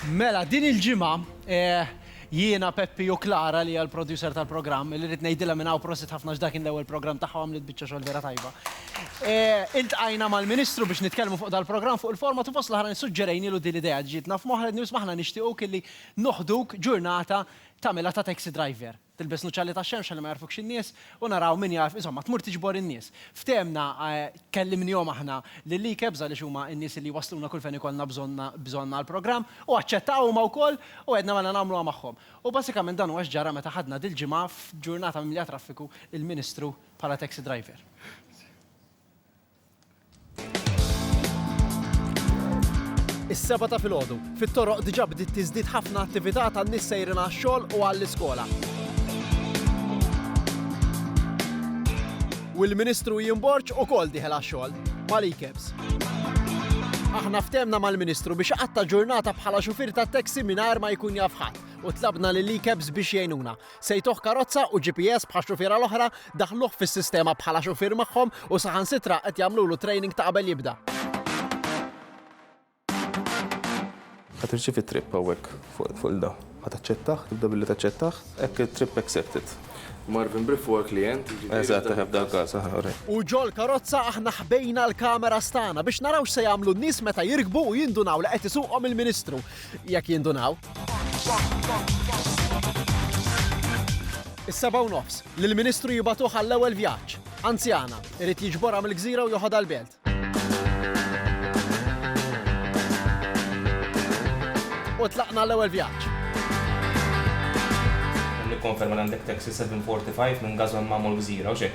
Mela, din il-ġimgħa jiena, Peppi u Klara li hija l-producer tal-programm, li rrid ngħidilha minn hawn prosit ħafna għax dak kien l-ewwel programm tagħha u għamlet biċċa xogħol vera tajba. Iltqajna mal-Ministru biex nitkellmu fuq dal-programm, fuq il-format u fost l-oħrajn suġġerejnielu din l-idea li ġietna f'moħħna, li nisma' aħna nixtiequk illi noħduk ġurnata tagħmilha ta' taxi driver. Tilbes nuċċali tax-xemx ħalli ma jagħrfukx in-nies, u naraw min jagħrf, insomma, tmur tiġbor in-nies. Ftehemna, kellimnihom aħna lill-ICAPS għaliex huma n-nies li jwassluna kull fejn ikollna bżonn bżonn għall-programm, u aċċettaw huma wkoll u għedna mela nagħmluha magħhom. U basikament dan huwa x'ġara meta ħadna dil-ġimgħa f'ġurnata mimlija traffiku il-Ministru bħala taxi driver. Is-seba' ta' filgħodu, fit-toroq diġà bdiet tiżdied ħafna attività tan-nies sejrin għax-xogħol u għall-iskola. U l-Ministru Ian Borg ukoll dieħel għax-xogħol mal-e-cabs. Aħna ftemna mal-Ministru biex iqatta' ġurnata bħala xufier tat-taxi mingħajr ma jkun jaf ħadd u tlabna lill-e-cabs biex jgħinuna. Sejtuh karozza u GPS bħax xufiera l-oħra, daħluh fis-sistema bħala xufier magħhom u saħansitra qed jagħmlulu training ta' qabel jibda. Ħa tirċievi trip hawnhekk fuq il-da. Ħa taċċettah, tibda billi taċċettah. Hekk it-trip accepted. Marvin Briff huwa l-klijent, jiġifieri. Eżatt, eħe f'dan il-każ, eħe, uri. U ġol-karozza aħna ħbejna l-cameras tagħna biex naraw x'se jagħmlu n-nies meta jirkbu u jindunaw li qed isuqhom il-Ministru. Jekk jindunaw. Is-sebgħa u nofs, lill-Ministru jibagħtuh għall-ewwel vjaġġ. Anzjana, irid jiġborha mill-gżira u joħodha l-belt. U tlaqna l-ewwel vjaġġ. Nikkonferma l għandek taxi 745 minn Gazon Mamo l-Gżira, u xek.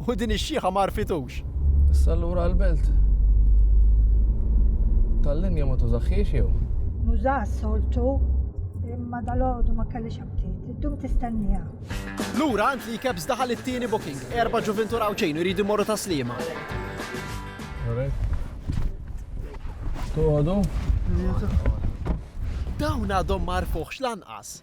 u din ix-xiħa ma għarfitux. Issa allura l-belt tal-linja ma tużaħħiex jew? Nuża soltu imma dal-għodu ma kellix aptit. Iddum tistennija. Lura għand li kebs daħal it-tieni booking. Erba' ġuventur għawċejn jridu morru ta' slima. Tuħodu? Dawn għadhom marfuħx lanqas.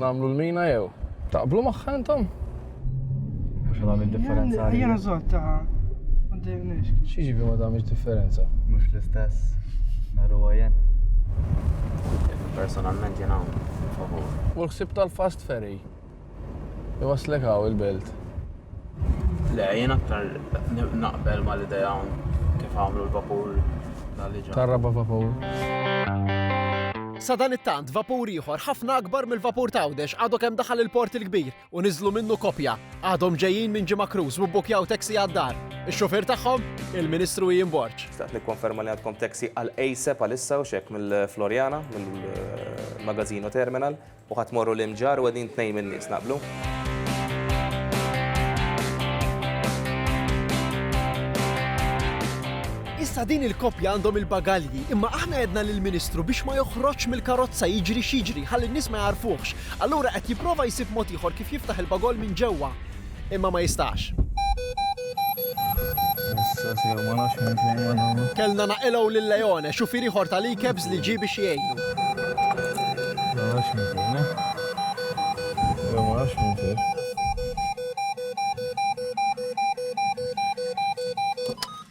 Nagħmlu l-mina jew? Taqblu magħha intom? Mhux għamil differenza. Jena zotta. Xieġibi ma tagħmilx differenza? Mhux l-istess. Naru għajen. Personalment jena favur. U l-ħsib tal-fast ferry. Iwaslek għaw il-belt. Le, jien aktar naqbel ma l-idea kif għamlu l-vapur tal-liġa. Tar-raba vapur. Sadanittant, vapur ieħor ħafna akbar mill-vapur t'Għawdex għadu kemm daħal il-Port il-Kbir u niżlu minnu koppja. Għadhom ġejjin minn Ġimgħa Cruise u bbukkjaw taxi għad-dar. Ix-xufier tagħhom? Il-Ministru Ian Borg. Xtaqt nikkonferma li għandkom taxi għal ASAP għalissa u x'hekk mill-Floriana, mill-Magazzino Terminal. U ħadd morru l-imġarr u qegħdin tnejn min-nies, naqblu? Issa din il-koppja għandhom il-bagalji, imma aħna għedna lill-Ministru biex ma joħroġx mill-karozza jiġri x'jiġri ħalli n-nies ma jagħrfuhx. Allura qed jipprova jsib mod ieħor kif jiftaħ il-bagol minn ġewwa. imma ma jistax. Kellna naqilgħu lil Leone, xufier ieħor tal-e-cabs li ġie biex jgħinu.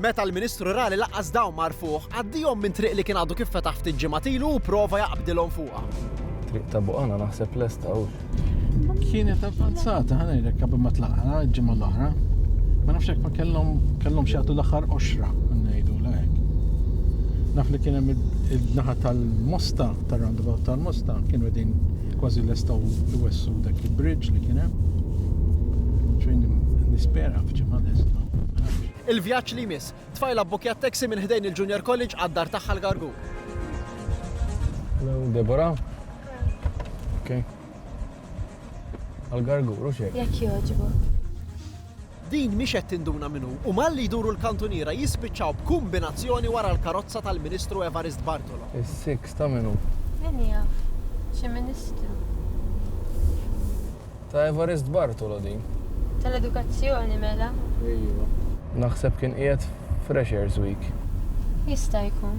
Meta l-Ministru ra li lanqas dawn ma għarfuh, għaddiehom minn triq li kien għadu kif fetaħ ftit ġimgħat ilu u pprova jaqbdilhom fuqha. Triq ta' Buqana naħseb lesta hu. Kienet avvanzata, ħa ngħidlek qabel ma tlaqna l-ġimgħa l-oħra. Ma nafx hekk ma kellhom kellhom xi jagħtu l-aħħar qoxra ngħidu lek. Naf li kien hemm il-naħa tal-Mosta, tar-roundabout tal-Mosta, kienu qegħdin Kważi lestaw iwessu dak il-bridge li kien hemm. Xejn nispera f'ġimgħa lesta. Il-vjaġġ li jmiss, tfajla bbukkjat taxi minn ħdejn il-Junior College għad-dar tagħha l-Gargur. Hello, Deborah. Okay. Għal-Gargur, u xejn. Jekk jogħġbok. Din mhix qed tinduna min hu u malli jduru l-kantuniera jispiċċaw b'kumbinazzjoni wara l-karozza tal-Ministru Evarist Bartolo. Is-siks ta' min hu? Min jaf. Xi Ministru. Ta' Evarist Bartolo din. Tal-Edukazzjoni mela. Iva. Naħseb kien qiegħed f'Freshers Week. Jista' jkun.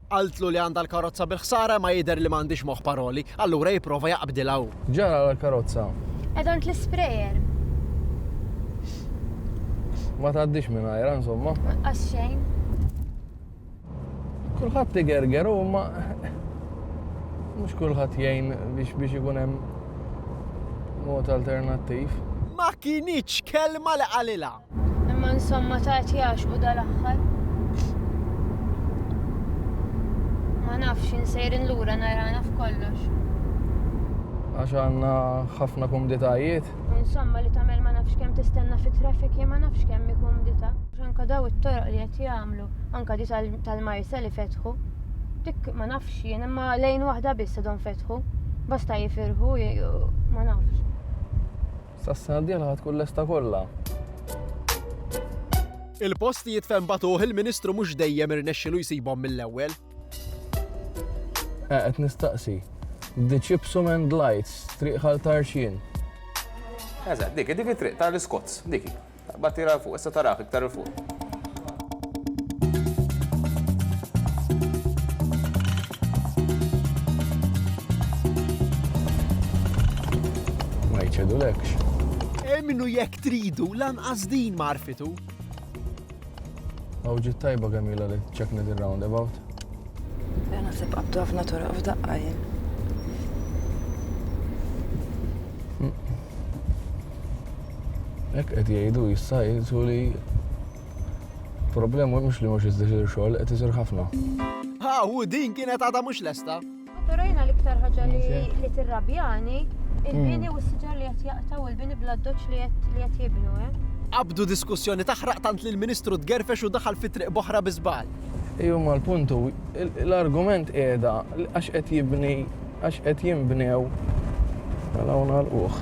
Qaltlu li għandha l-karozza bil-ħsara imma jidher li ma għandhiex moħħ paroli, allura jipprova jaqbdilha hu. Ġara għall-karozza? Qiegħda għand l-isprejer. Ma tgħaddix mingħajrha insomma. Qas xejn. Kulħadd igerger u ma mhux kulħadd jgħin biex biex ikun hemm mod alternattiv. Ma kinitx kelma li qalilha. Imma insomma ta' qed jaxqu dal-aħħar. Ma nafx insejrin lura narana f'kollox. Għax għandna ħafna kumditajiet. Insomma li tagħmel ma nafx kemm tistenna fit-traffic ma nafx kemm hi kumdità. Anka daw it-toroq li qed jagħmlu, anka di tal-Marsa li fetħu. Dik ma nafx jien imma lejn waħda biss għadhom fetħu. Basta jifirħu ma nafx. Sas-sena d-dieħla ħa tkun lesta kollha. Il-post li jitfen batuh il-Ministru mhux dejjem irnexxilu jsibhom mill-ewwel. Qed nistaqsi. The Chipsum and Lights, triq ħal Tarxien. Eżatt, dik, dik it-triq tal-Iskots, dik. Aqbad tira 'l fuq, issa tarah iktar 'il fuq. Ma jċedulekx. Emmnu jekk tridu, lanqas din ma għarfitu. Aw ġiet tajba kemm ilha li ċekna din roundabout. Jena naħseb qabdu ħafna toroq f'daqqa jien. Jekk qed jgħidu issa jgħidu li problema mhux li mhux iżdixir xogħol qed isir ħafna. Haw, din kienet għadha mhux lesta. Pero jina l-iktar ħagġa li tirrabjani il-bini mm. u s-siġar li qed jaqtaw il-bini bla doċ li qed jibnu, eh? Abdu diskussjoni taħraq tant li l-Ministru tgerfex u daħal fi triq boħra bizbal. Iju ma l-puntu, l-argument qiegħda għax qed jibni, għax qed jinbnew għal-għuna mela l-uħ.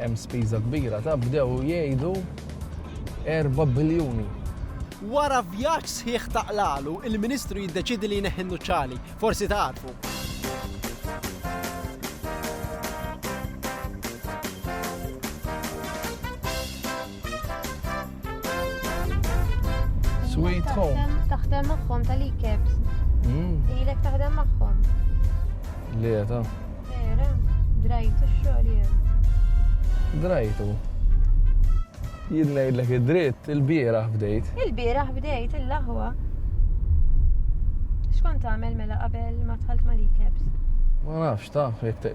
Hemm spiża kbira ta' bdew jgħidu 4 biljuni. Wara vjaġġ sħiħ ta' qlalu, il-Ministru jiddeċiedi li jneħħi n-nuċċali. Forsi tagħrfu. Sweet Home. Taħdem magħhom tal-e-caps. Hmm. Ilek taħdem magħhom. Le, ta' Vera, drajtu x-xogħol jew. drajtu. Jien ngħidlek id-dritt, il-bieraħ bdejt. Il-bieraħ bdejt il-laħwa. Xkont tagħmel mela qabel ma tħalt mal-e-caps? Ma nafx ta' jekk te-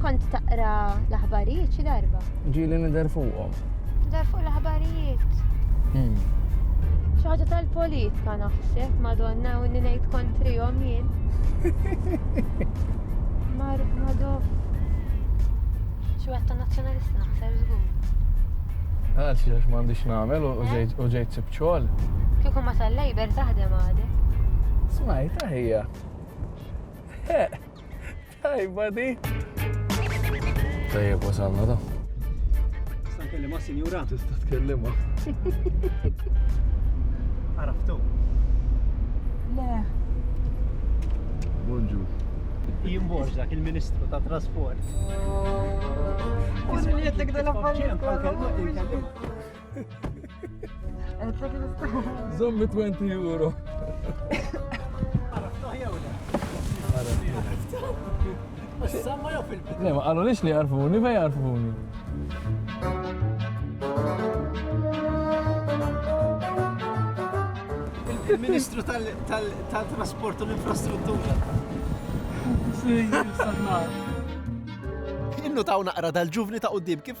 Kont taqra l-aħbarijiet xi darba? Ġieli nidher fuqhom. Dar fuq l-aħbarijiet. Hmm. Xi ħaġa tal-politika naħseb, madonna, u ngħid kontrihom jien. Mar madof. Xi wieħed ta' nazzjonalista naħseb żgur. Għal xi għax m'għandix nagħmel u eh? ġejt u ġejt sib xogħol. Kieku ma tal-lejber taħdem għadek. Smajt, aħija. Tajba di. Tajjeb wasalna da. Tista' nkellimha sinjura? Tista' tkellimha. Araftu. Le. Bonġu. Jien dak il-Ministru ta' Trasport. Isma' jgħidlek dal-affarijiet. Zommi 20 euro. Le, ma għallu lix li għarfuni, fej għarfuni. Il-Ministru tal-Trasport u l-Infrastruttura. Innu taw naqra dal-ġuvni ta' qoddim kif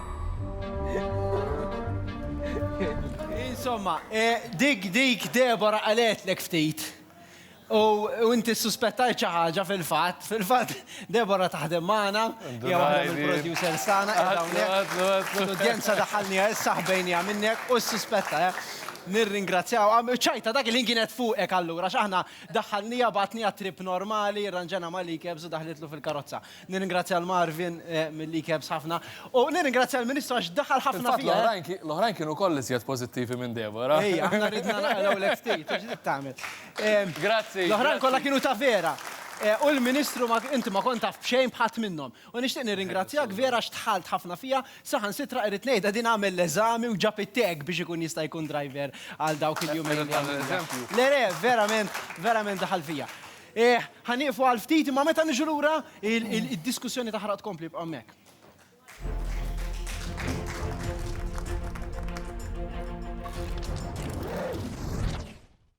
Insomma, eh, dik dik Debora għaletlek ftit. U inti suspettajt xi ħaġa fil-fatt, fil-fatt Debora taħdem magħna, jew waħda mill-producer sana, l-udjenza daħalniha issa ħbejniha minnek u suspetta, eh. Nirringrazzjaw, ċajta dak il-ħin kienet fuqek allura, x'aħna daħalniha batniha trip normali, rranġena ma' likebs u daħlitlu fil-karozza. Nirringrazzja l Marvin mill-li kebs ħafna u nirringrazzja l-Ministru għax daħal ħafna fija. L-oħrajn kienu koll iżjed pożittivi minn Deborah. Ejja, aħna ridna naqraw l ftit, ġdid tagħmel. Grazzi. L-oħrajn kollha kienu ta' vera. U l-Ministru inti ma kont taf b'xejn bħadd minnhom. U nixtieq nirringrazzjak vera x'tħalt ħafna fija, saħan sitra irrid ngħidha din għamel l-eżami u ġab it-tag biex ikun jista' jkun driver għal dawk il-jumejn. Le le, verament, verament daħal fija. Eh, ħa nieqfu għal ftit, imma meta niġu lura, id-diskussjoni taħraq tkompli bqa' hemmhekk.